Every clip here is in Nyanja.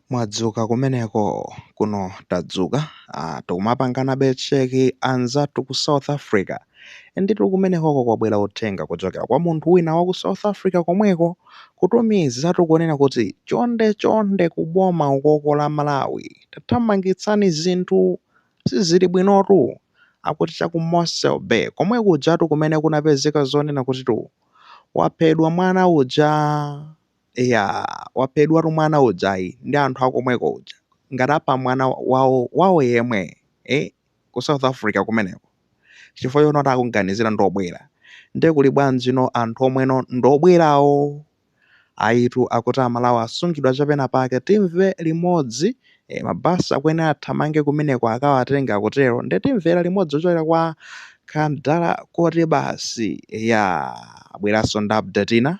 Mwadzuka kumeneko, kuno tadzuka. Ah, tikumapanganabe check anzathu ku South Africa. Nditu kumenekoko kwabwera uthenga kuchokera kwa munthu wina wa ku South Africa komweko, kutumizatu kunena kuti chonde chonde ku boma ukoko la Malawi tathamangitsani zinthu sizili bwinotu. Akuti cha ku Mossel Bay komwe kujatu kumene kunapezeka zonena kutitu waphedwa mwana uja. Eya waphedwatu mwana ujayi ndi anthu akomweko uja ngati apha mwana wawo yemwe eh ku South Africa kumeneko chifukwa chonoti akuganizira ndi obwera ndiye kuli bwanjino anthu omweno ndi obwerawo ayitu akuti amalawi asungidwa chapenapake timve limodzi eh, mabasi akuyenera athamange kumeneko akawatenge akutero ndiye timvera limodzi kuchokera kwa Kandala kuti basi eya abweranso ndi update ina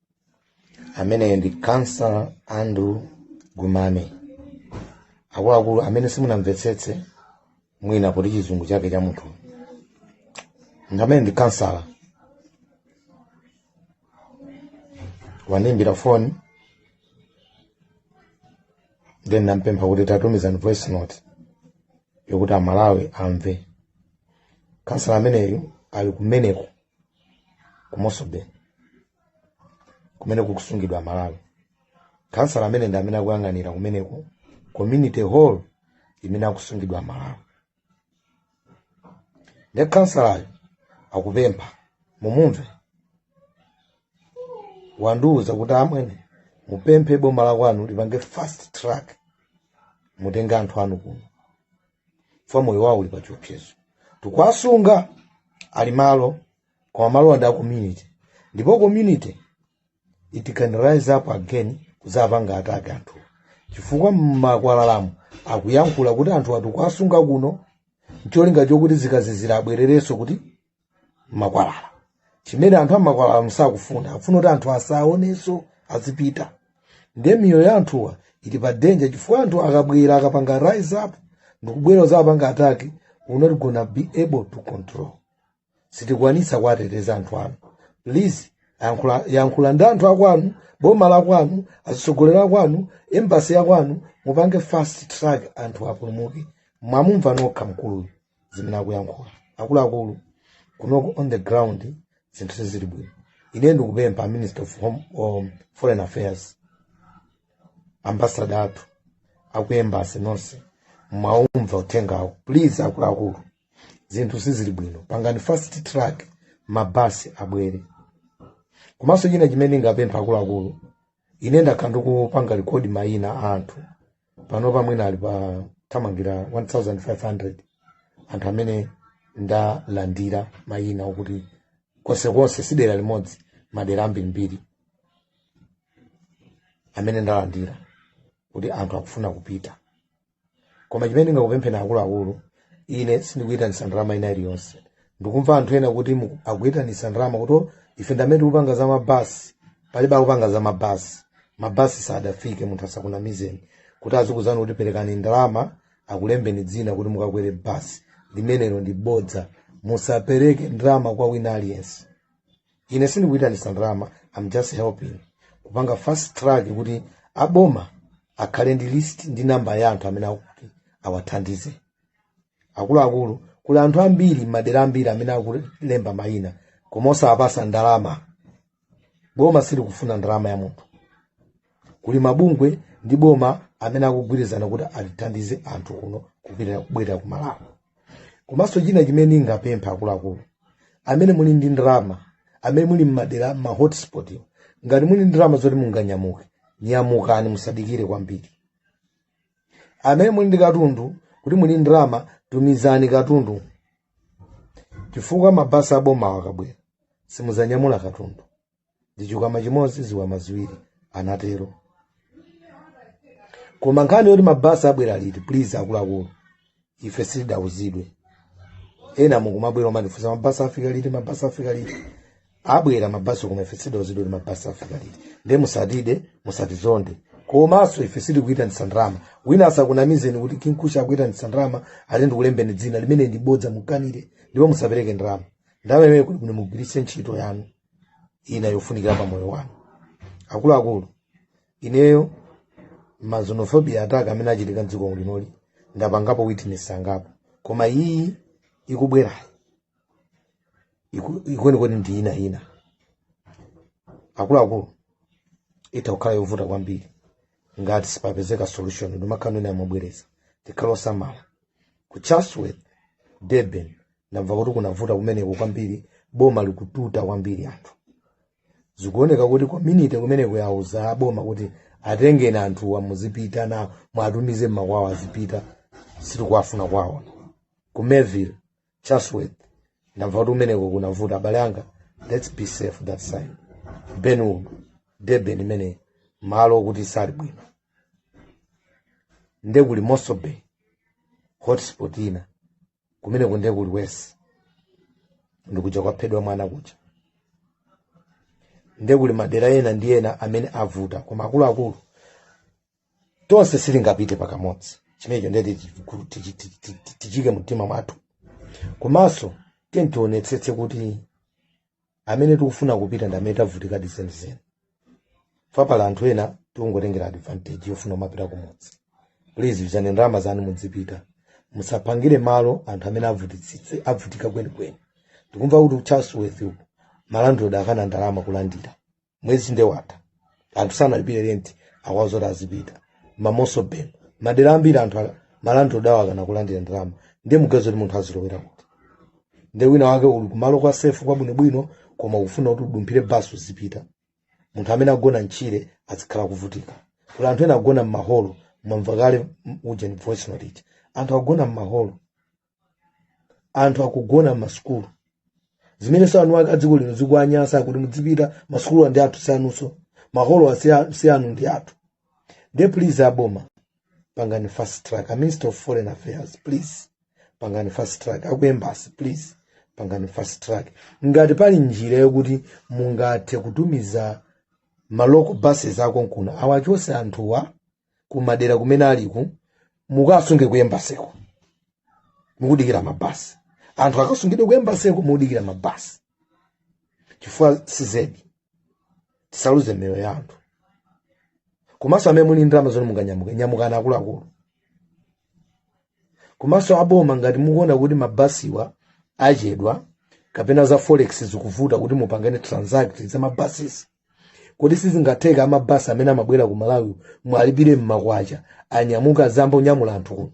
ameneyo ndi councilor andrew gumame akuluakulu amene simunamvetsetse mwina poti chizungu chake cha munthu amene ndi councilor wandiimbira foni then nampempha kuti tatumizani voice note yokuti amalawi amve councilor ameneyu ali kumeneko ku mossel bay kumene kukusungidwa amalawi councilor amene ndi amene akuyang'anira kumeneko community hall imene akusungidwa amalawi nde councilor-yo akupempha mumumve wandiwuza kuti amwene mupemphe boma lakwanu lipange fast track mutenge anthu anu kuno chifukwa moyo wawo uli pa chiopsezo tikuwasunga ali malo koma malo ndi a community ndipo community it can rise up again kuzapanga attack anthuwa chifukwa mmakwalalamu akuyankhula kuti anthuwa tikuwasunga kuno ncholinga chokuti zikazizira abwererenso kuti mmakwalala chimene anthu a mmakwalalamu sakufuna akufuna kuti anthu asaonenso azipita ndiye miyoyo ya anthuwa ili pa danger chifukwa anthu akabwera akapanga rise up ndikubwera kuzapanga attack we're not gonna be able to control sitikwanisa kuwateteza anthu anu please yankhula- yankhula ndi anthu akwanu boma lakwanu atsogoleri akwanu embassy yakwanu mupange fast track anthu apulumuke mwamumva nokha mkuluyu zimene akuyankhula akuluakulu kunoko on the ground zinthu sizili bwino ine ndikupempha minister of foreign affairs ambassador athu aku embassy nonse mwaumva uthengawo please akuluakulu zinthu sizili bwino pangani fast track mabasi abwere komanso china chimene ndingapempha akuluakulu ine ndakhala ndikupanga rekodi mayina a anthu panopa mwina ali pa thamangira 1500 anthu amene ndalandira mayina okuti konsekonse si dera limodzi madera ambirimbiri amene ndalandira kuti anthu akufuna kupita koma chimene ndingakupempheni akuluakulu ine sindikuyitanitsa ndalama ina iliyonse ndikumva anthu ena kuti akuyitanisa ndalama kuti ife ndamene tikupanga za mabasi palibe akupanga za mabasi mabasi sadafike munthu asakunamizeni kuti azikuzani kuti perekani ndalama akulembeni dzina kuti mukakwere basi limenelo ndi bodza musapereke ndalama kwa wina aliyense ine sindikuyitanisa ndalama I'm just helping kupanga fast track kuti aboma akhale ndi list ndi namba ya anthu amene akuti awathandize akuluakulu kuli anthu ambiri m'madera ambiri amene akulemba mayina koma osawapasa ndalama boma silikufuna ndalama ya munthu kuli mabungwe ndi boma amene akugwirizana kuti atithandize anthu kuno kubwerera ku malawi komanso china chimene ndingapemphe akuluakulu amene muli ndi ndalama amene muli m'madera ma hotspot ngati muli ndi ndalama zoti munganyamuke nyamukani musadikire kwambiri amene muli ndi katundu ngati muli ndi ndalama tumizani katundu chifukwa mabasi abomawo akabwera simuzanyamula katundu ndi chikwama chimodzi zikwama ziwiri anatero koma nkhani yoti mabasi abwera liti please akuluakulu ife sitidauzidwe ena mukumabwera kumatifunsa mabasi afika liti mabasi afika liti abwera mabasi koma ife sitidauzidwe kuti mabasi afika liti nde musatide musatizonde komanso ife sitikuyitanitsa ndalama wina asakunamizeni kuti kinkusha akuyitanitsa ndalama ati ndikulembeni dzina limenelo ndi bodza mukanire ndipo musapereke ndalama ndalama imene kuti kuti mugwiritse ntchito yanu ina yofunikira pa moyo wanu akuluakulu ineyo ma xenophobia attack amene achitika mdziko linoli ndapangapo witness angapo koma iyi ikubwerayi kwenikweni ndi ina ina akuluakulu itha kukhala yovuta kwambiri ngati sipapezeka solution ndimakhala ndimabwereza tikhale osamala ku chatsworth durban ndamva kuti kunavuta kumeneko kwambiri boma likututa kwambiri anthu zikuoneka kuti community kumeneko yauza aboma kuti atengeni anthuwa muzipita nawo mwatumize mmakwawo azipita sitikuwafuna kwawo ku Mayville Chatsworth ndamva kuti kumeneko kunavuta abale anga let's be safe that side Kenwood Durban imene malo okuti sali bwino nde kuli Mossel Bay hotspot ina kumeneko ndiye kuli West ndikuja kwaphedwa mwana kuja ndiye kuli madera ena ndi ena amene avuta koma akuluakulu tonse sitingapite pakamodzi chimenecho ndiye tichiku- tichi- tichi- tichi- tichike mtima mwathu komanso tiye tionetsetse kuti amene tikufuna kupita ndi amene tavutikadi zenizeni chifukwa pali anthu ena tikungotengera advantage yofuna kumapita kumudzi please yuzani ndalama zanu mudzipita musaphangire malo anthu amene avutitsitse avutika kwenikweni tikumva kuti ku chatsworth uku malandlord akana ndalama kulandira mwezi nde watha anthu sanalipire renti akuwauza zoti azipita ma Mossel Bay madera ambiri anthu a- malandlord awo akana kulandira ndalama ndiye muganize kuti munthu azilowera kuti nde wina wake uli kumalo kwa sefu kwabwinobwino koma ukufuna kuti udumphire basi uzipita munthu amene agona mchire azikhala kuvutika kuli anthu ena agona mmaholo mwamva kale m- uja ni voice note ija anthu agona mmaholo anthu akugona m'masukulu zimenenso eni ake a dziko lino zikuwanyasa akuti mudzipita masukulu ndi athu si anunso maholowa si a- si anu ndi athu nde please aboma pangani fast track a minister of foreign affairs please pangani fast track aku embassy please pangani fast track ngati pali njira yokuti mungathe kutumiza ma local buses akonkuna awachose anthuwa kumadera kumene aliku mukawasunge ku embassy ko mukudikira mabasi anthu akasungidwe ku embassy ko mukudikira mabasi chifukwa cizedi tisaluze miyoyo ya anthu komanso amene muli ndalama zoti munganyamuke nyamukani akuluakulu komanso aboma ngati mukuona kuti mabasiwa achedwa kapena za forex zikuvuta kuti mupangane transact za ma buses kodi sizingatheka amabasi amene amabwera ku malawi mwalipire mmakwacha anyamuke azayambe kunyamula anthu kuno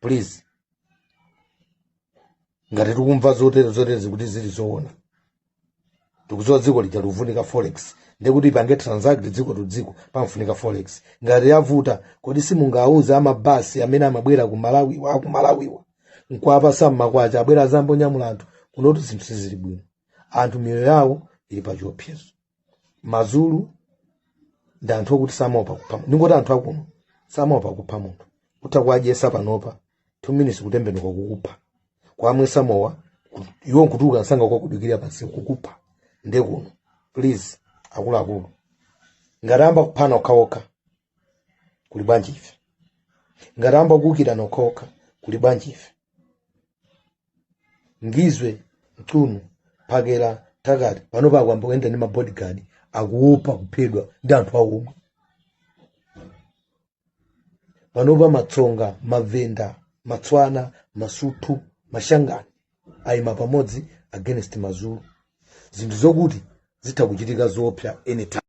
please ngati tikumva zotere zotere zikuti zili zoona tikudziwa dziko lija likuvutika forex ndekuti ipange transact dziko to dziko pamfunika forex ngati yavuta kodi simungauze amabasi amene amabwera ku malawiwa aku malawiwa nkuwapasa mmakwacha abwere azayambe kunyamula anthu kunotu zinthu sizili bwino anthu miyoyo yawo ili pa chiopsezo mazulu ndi anthu okuti samaopa kupha munthu ndingoti anthu akuno samaopa kupha munthu utha kuwadyesa panopa two minutes kutembenuka kukupha kuwamwesa mowa iwo nkutuluka msanga kukakudikirira pansi kukupha nde kuno please akuluakulu ngati amba kuphana okhaokha kuli bwanji ife ngati amba kuukirana okhaokha kuli bwanji ife Ngizwe Mchunu Phakelumthakathi panopa akuyamba kuyenda ndi mabodyguard akuopa kuphedwa ndi anthu awo omwe panopa matsonga mavenda matswana masuthu mashangani ayima pamodzi against mazulu zinthu zokuti zitha kuchitika zoopsa anytime